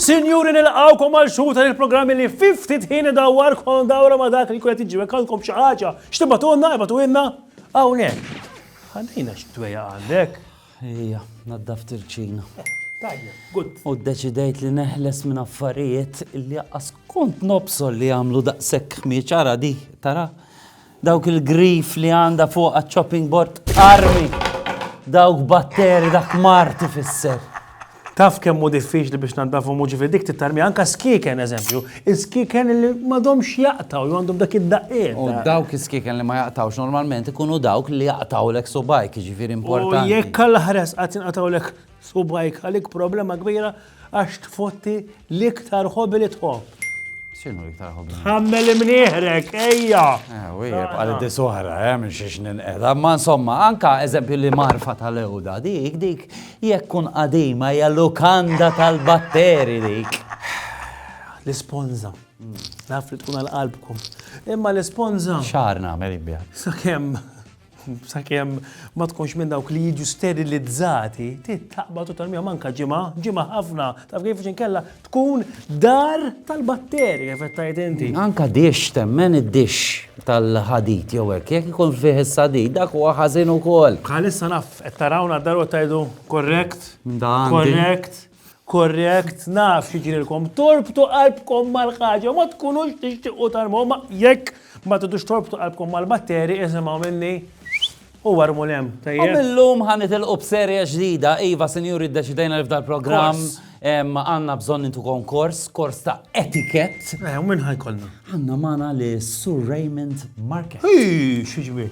Sinjuri nilqawkom għal xhur ta' il-programmi li 50 ħin dawar kon dawra ma' dak li kunet iġi għandkom xi ħaġa. X'tibatunna, ibatunna hawnhekk. Ħallina xi tweja għandek. Ejja, naddaft il-kċina. Tajjeb, good. U ddeċidejt li neħles minn affarijiet li jaqqas kont nobsol li jagħmlu daqshekk ħmieġ ara di, tara. Dawk il-grif li għandha fuq għaċ-chopping board armi. Dawk batteri dak marti fisser. Taf kemm hu diffiċli biex tnaddafhom u ġifieri dik tittarmija anke skieken eżempju, is-skieken li m'għadhomx jaqtgħu jew għandhom dak id-daqqiet. U dawk is-skieken li ma jaqtgħux normalment ikunu dawk li jaqtgħulek subgħajk, jiġifieri importanti. U jekk għall-aħħar qatt jinqatgħulek subgħajk għalik problema kbira għax tfotti L-iktar hobby li tħobb. X'inhu l-iktar hobby? Tħammel imnieħrek, ejja! Eh, wieħed għal dis oħra, eh, minn xiex ninqed. Ma insomma, anka eżempju li marfa tal-ewda dik, dik jekk kun qadima hija lukanda tal-batteri dik. L-isponza. Naf li tkun għal-qalbkom. Imma l-isponza. Xar nagħmel ibja. Sakemm sakemm ma tkunx minn dawk li jiġu sterilizzati, taqbad u tal-mija manka ġimgħa, ġimgħa ħafna, taf kif xi nkella tkun dar tal-batteri kif qed tgħid inti. Anka dix temmen id-dix tal-ħadid jew hekk jekk ikun fih is-sadid dak huwa ħażin ukoll. Bħalissa naf qed tarawna d-daru tgħidu korrekt, korrekt. Korrekt, naf x'jiġrilkom. Torbtu qalbkom mal-ħaġa, ma tkunux tixtiequ tarmu, ma jekk ma tidux torbtu qalbkom mal-batteri, isimgħu minni u warmu lem. U millum ħan nitilqu b'serja ġdida, iva sinjuri ddeċidejna li f'dal-programm għandna bżonn nintu konkors, kors ta' etikett. Eh, u min ħajkollna? Għandna magħna lis-Sur Raymond Marquette. Hi, xi ġmiel.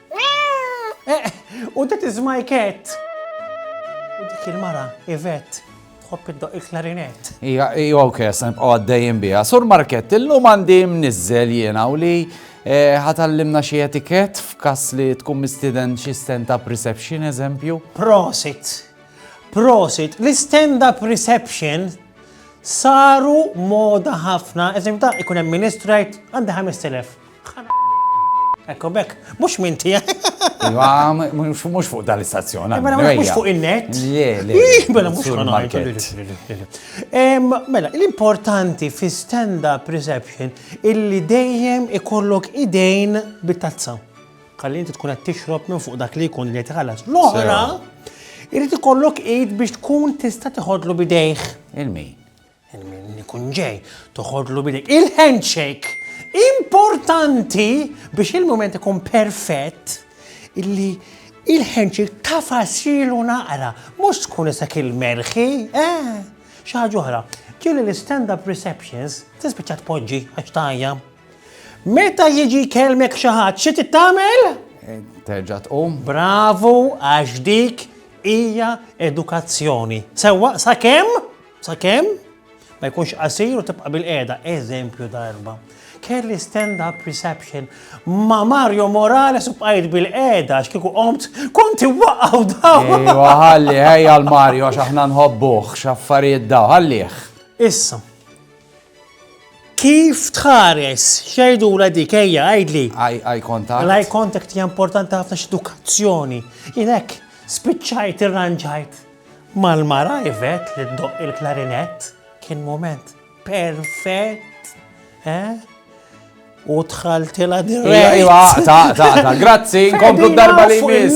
U that is my cat! U dik il-mara, Yvette, tħobb iddoq il-klarinett. Ija, ija, ok, sa nibqgħu għaddejjin biha. Sur Markett, illum għandi mniżżel jiena u li eh, ħatallimna xi etikett f'każ li tkun mistieden xi stand-up reception eżempju. Prosit! Prosit! L-stand-up reception saru moda ħafna, eżempju ta' ikun hemm ministru jgħid għandi 5000. Ekko bekk, mux minn tija. Iwa, mux fuq dal-istazzjon. Eh, mela, mux fuq il-net. Le, le. Mela, mux fuq il-market. Mela, l-importanti fi stand-up reception illi dejjem ikollok idejn bit-tazza. Kalli inti tkun għed tixrob minn fuq dak li jkun li tħallas. L-oħra, irrid ikollok id biex tkun tista' tiħodlu bidejh. Il-min? Min ikun ġej, toħodlu bidek. Il-handshake importanti biex il-moment ikun perfett illi il-handshake tafasilu naqra, mhux tkun isek il-merħi, eh, xi ħaġa oħra. Ġieli l-stand-up receptions tispiċċa tpoġġi għax tajja. Meta jiġi kelmek xi ħadd xi tittamel? Eh, terġa' tqum. Bravu għax dik hija edukazzjoni. Sewwa sakemm Sakemm ma jkunx qasir u tibqa' bil-qiegħda, eżempju ta' erba'. Kelli stand-up reception ma' Mario Morales u bqajt bil-qiegħda għax kieku qomt konti waqgħu daw. Ejwa ħalli ħejja l-Mario għax aħna nħobbuh x'affarijiet daw ħallih. Issa. Kif tħares xejdu la dik ejja għajdli? Eye contact. L-eye contact hija importanti ħafna x'edukazzjoni. Jien hekk spiċċajt irranġajt. Mal-mara Yvette li ddoqq il-klarinett kien mument perfett, eh? U dħaltilha dirett. Iva, ta' ta' ta' grazzi, nkomplu darba li jmiss.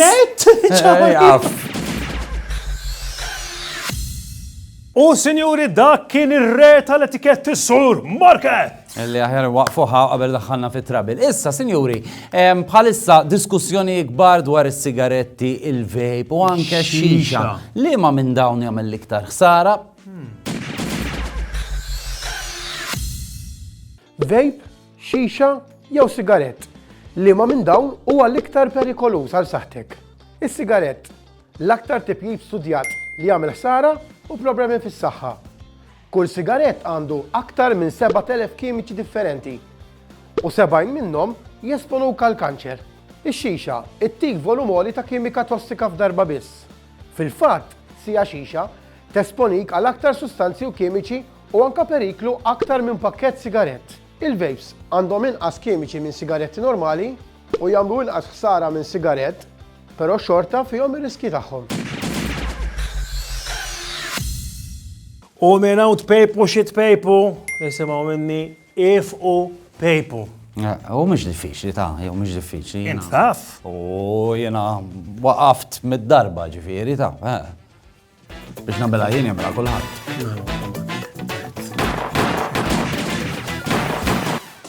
U sinjuri dak kien ir-re tal-etikett is-sur Market! Li aħjar waqfuha qabel daħħalna fi trabil. Issa, sinjuri, bħalissa diskussjoni ikbar dwar is-sigaretti, il-vape u anke xixa. Li ma minn dawn jagħmel l-iktar ħsara? Vape, xixa jew sigarett? Li ma minn dawn huwa l-iktar perikoluż għal saħtek? Is-sigarett, l-aktar tipjib studjat li jagħmel ħsara u problemi fis-saħħa. Kull sigarett għandu aktar minn 7,000 kimiċi differenti u 70 minnhom jesponuk għall-kanċer. Ix-xixa ttik volum għoli ta' kimika tossika f'darba biss. Fil-fatt, siegħa xixa tesponik għal aktar sustanzi u kimiċi u anke periklu aktar minn pakkett sigarett. Il-vapes għandhom inqas kimiċi minn sigaretti normali u jagħmlu inqas ħsara minn sigarett, però xorta fihom ir-riskji tagħhom. U minn hawn tpejpu xi tpejpu, isimgħu minni ifqu pejpu. U mhux diffiċli ta, jew mhux diffiċli. Int taf. U jiena waqaft mid-darba ġifieri ta. Biex nabela jien jagħmilha kulħadd.